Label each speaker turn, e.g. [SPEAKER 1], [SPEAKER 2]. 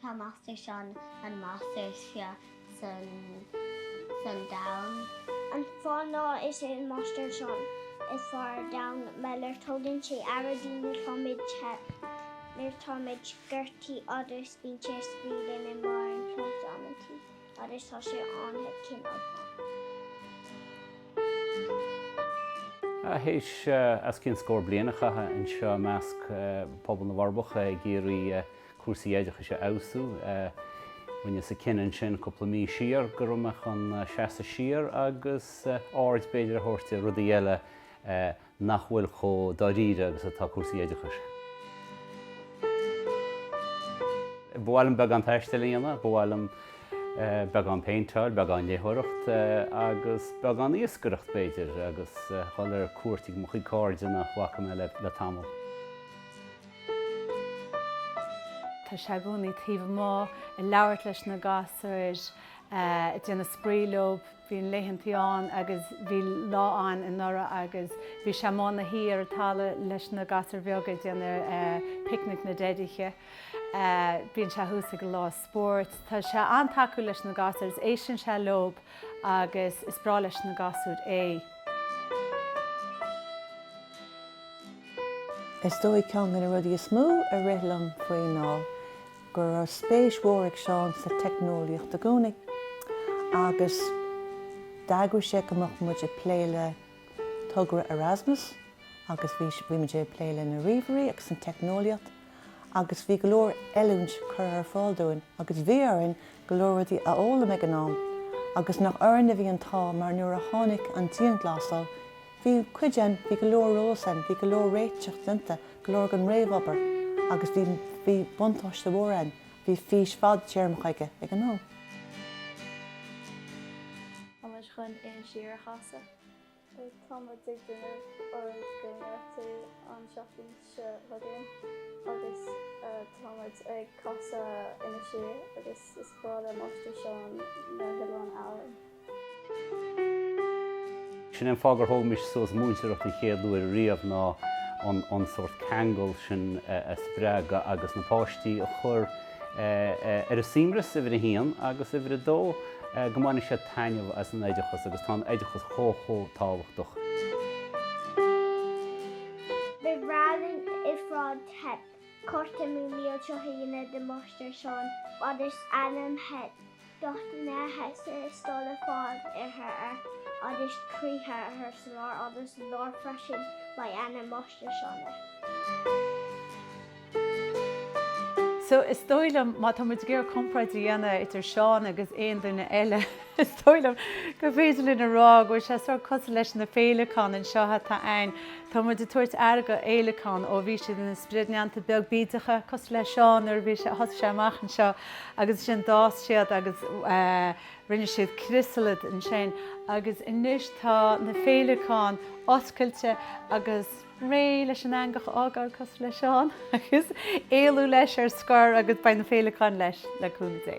[SPEAKER 1] Tá Máistir Seán an máistir is fearr san domhan. An fáth ná is é an Máistir Seán is fearr ar domhan mar gheall ar tugann sé aire dúinn nuair táimid te, nuair táimid gortaithe agus bíonn sé ag spraoi linn i mbarr an chloig amantaí.
[SPEAKER 2] Agus tá sé an-chineálta. Théis os cionn scór bliain a chaitheamh anseo i measc pobal na bhForbacha ag iarraidh cúrsaí oideachais a fheabhsú, rinneas an cinneadh ansin cúpla mí siar go raibh mé chun seasamh siar agus aird b'fhéidir a thabhairt ar rudaí eile, nach bhfuil chomh dáiríre agus atá cúrsaí oideachais. Ba mhaith liom beagán taistil a dhéanamh, ba mhaith liom beagán péinteáil, beagán léitheoireacht agus beagán iascaireacht b'fhéidir agus dhul ar cuairt ag mo chuid cairde nach bhfaca mé le
[SPEAKER 3] tamall. Tá sé i gcónaí taobh amuigh ag labhairt leis na gasúir, ag déanamh spraoi leob. Bíonn laethantaí ann agus bhí lá ann anuraidh agus bhí sé amuigh ina shuí ar an talamh leis na gasúir bheaga ag déanamh picnic na dteidithe. Bíonn sé thuas ag an lá spóirt. Tá sé an-tacúil leis na gasúir agus éisteann sé leob agus is breá leis na gasúir
[SPEAKER 4] é. Is dóigh ceann de na rudaí is mó a rith liom faoi ná go raibh spéis mhór ag Seán sa teicneolaíocht i gcónaí agus d'eagraigh sé go mbeadh muid ag plé le togra Erasmus agus bhí bhí muid ag plé le na ríomhairí agus an teicneolaíocht agus bhí go leor oiliúint curtha ar fáil dúinn agus bhí orainn go leor rudaí a fhoghlaim ag an am agus nach orainn a bhí an t-ádh mar nuair a tháinig an dianghlasáil Bhí cuid ann, bhí go leor eolas ann, bhí go leor réiteach déanta, go leor den réamhobair agus bhí, bhí buntáiste mhór ann, bhí fís fadtéarmach aige, ag an am.
[SPEAKER 5] Tá muid chun Inis Oírr a chasadh. Tá muid ag déanamh ár gcóineartú an tseachtain
[SPEAKER 2] seo chugainn agus táimid ag casadh Inis Oírr agus is breá le Máistir Seán na hOileáin Árann. Sin é an fáth gur thóg mise suas múinteoireacht an chéad uair riamh ná an sórt ceangal sin a spreagadh agus na páistí a chur ar a suaimhneas, uimhir a haon agus uimhir a dó, go mbainfidís taitneamh as an oideachas agus tá an oideachas chomh chomh tábhachtach.
[SPEAKER 1] Bhí Browning i Shráid Theip, Corte Mumhan seo hAoine do Mháistir Seán fhad is ainm Theip do dhuine a theastaigh is dul le fáil uirthi ar fhad is croíthe uirthi sa lár fhad is i lár freisin ba í ainm Mháistir Seán é.
[SPEAKER 3] So, is dóigh liom, má tá muid ag iarraidh comparáid a dhéanamh idir Seán agus aon duine eile, is dóigh liom gur féidir linn a rá go bhfuil sé sórt cosúil leis na féileacáin anseo atá ann. Tá muid ag tabhairt aire do fhéileacáin ó bhí siad ina sprid neanta beag bídeacha, cosúil le Seán nuair a bhí sé, thosaigh sé amach anseo agus ansin d'fhás siad agus rinne siad criosalad ansin agus anois tá na féileacáin oscailte agus. réidh leis an eangach a fhágáil cosúil le Seán agus éalú leis ar scor agus beidh na féileacáin leis, le cúnamh Dé.